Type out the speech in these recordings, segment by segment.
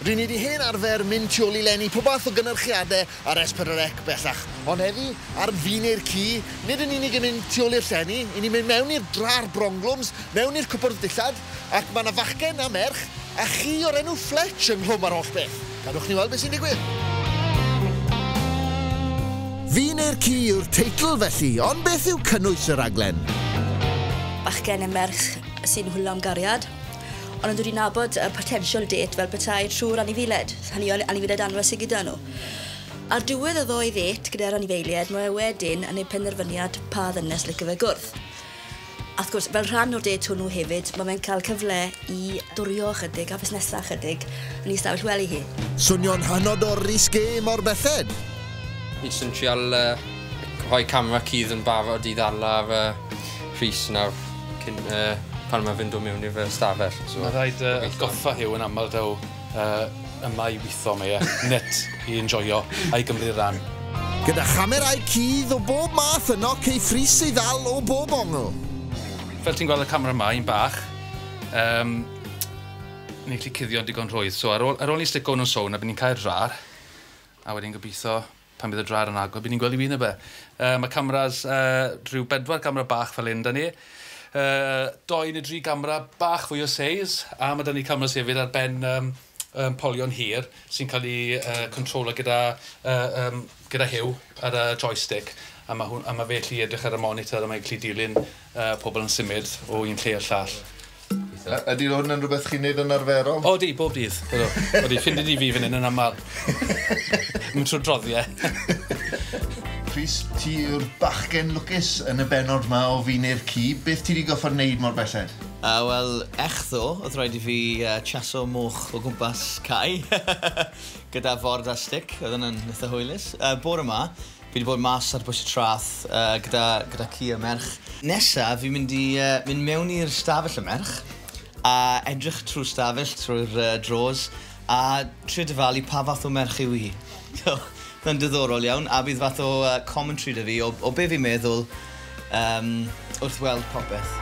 Ry'n ni wedi hen arfer mynd tu ôl i lenni pob math o gynyrchiadau ar S4C bellach, ond heddi, ar Fi Neu'r Ci, nid yn unig yn mynd tu ôl i'r llenni, 'yn ni'n mynd mewn i'r dra a'r bronglwms, mewn i'r cwpwrdd dillad, Ac mae 'na fachgen a merch a chi o'r enw Fletch ynghlwm â'r holl beth. Gadwch ni weld beth sy'n digwydd. Fi neu'r ci yw'r teitl felly, ond beth yw cynnwys y rhaglen? Bachgen a merch sy'n hwylo am gariad, ond yn dod i nabod y potential date fel petai trwy'r anifeiliaid. Hynny yw, anifeiliaid anwes sy gyda nhw. Ar diwedd y ddoe ddêt gyda'r anifeiliaid, mae fe wedyn yn neud penderfyniad pa ddynes licio fe gwrdd. A wrth gwrs, fel rhan o'r dêt hwnnw hefyd, mae fe'n cael cyfle i dwrio ychydig a fusnesau ychydig yn ei stafell wely hi. Swnio'n hynod o risqué mor belled! Fi jyst yn trial rhoi camera cudd yn barod i ddala ar Rhys nawr cyn pan mae fe'n dod mewn i'r stafell. Mae'n rhaid atgoffa Huw yn aml taw Yy, yma i witho mae e, net i enjoio a'i gymryd ran. Gyda chamerâu cudd o bob math yno cei frys ei ddal o bob ongl. Fel ti'n gweld y camera yma, un bach, yym, ni'n gallu cuddio'n digon rhwydd. So ar ôl, ar ôl ni stico hwn yn sown a bydd ni'n cau'r drar, a wedyn gobeithio pan bydd y draed yn agor, bydd ni'n gweld i win neu be. Uh, mae cameras, uh, rhyw bedwar gamera bach fel un da ni. Uh, doi neu dri gamera bach fwy o seis, a mae da ni cameras hefyd ar ben um, um, polion hir sy'n cael ei uh, controla gyda, uh, um, gyda hiw ar y joystick a mae, hwn, a mae fe allu edrych ar y monitor a mae'n gallu dilyn Yy pobl yn symud o un lle i'r llall. Gobeithio. Y- ydi hwn yn rwbeth chi'n neud yn arferol? O ydi, bob dydd. Ydw. Odi, ffind i di fi fyn 'yn yn amal. Yn trw'r droddie. Rhys, ti yw'r bachgen lwcus yn y bennod 'ma o Fi Neu'r Ci. Beth ti 'di gorffod neud mor belled? A wel, echddo, o'dd raid i fi yy chaso moch o gwmpas cae gyda ford a stick, oedd wnna'n itha hwylus. Yy bore 'ma, Fi 'di bod mas ar bwys y traeth gyda gyda ci a merch. Nesa fi'n mynd i yy mynd mewn i'r stafell y merch a edrych trw'r stafell trwy'r yy drawers a trio dyfalu pa fath o merch yw hi. So ma'n diddorol iawn a bydd fath o yy commentary 'da fi o o be' fi'n meddwl um, wrth weld popeth.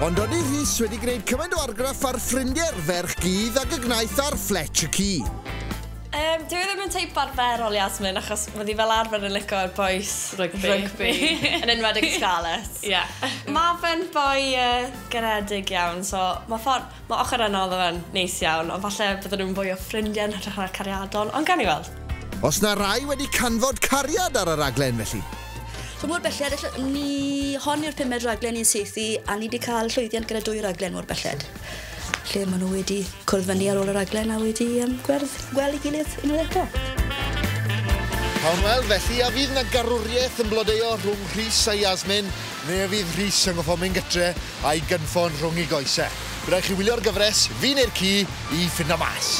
Ond oedd Rhys wedi gwneud cymaint o argraff ar ffrindiau'r ferch gydd ag y gnaeth ar Fletch y ci. Um, dwi e ddim yn teip arferol Yasmin, achos mae di fel arfer yn licio boes rygbi, rygbi yn enwedig Scarlets. yeah. Mae fe'n boi uh, garedig iawn, so mae ffordd... Mae ochr yna o ddo fe'n neis iawn, ond falle bydden nhw'n fwy o ffrindiau yn hytrach na cariadon, ond gawn ni weld. Os na rai wedi canfod cariad ar y raglen felly? So mor belled ella ni hon yw'r pumed raglen ni'n saethu a ni di cael llwyddiant gyda dwy raglen mor belled lle maen nhw wedi cwrdd fyny ar ôl y raglen a wedi um, gwerth gweld ei gilydd unwaith eto. Cawn weld felly, a fydd na garwriaeth yn blodeo rhwng Rhys a Yasmin, neu a fydd Rhys yn goffo mynd gytre a'i gynffon rhwng ei goesau. Bydd rhaid chi wylio'r gyfres, fi neu'r ci, i ffindo mas.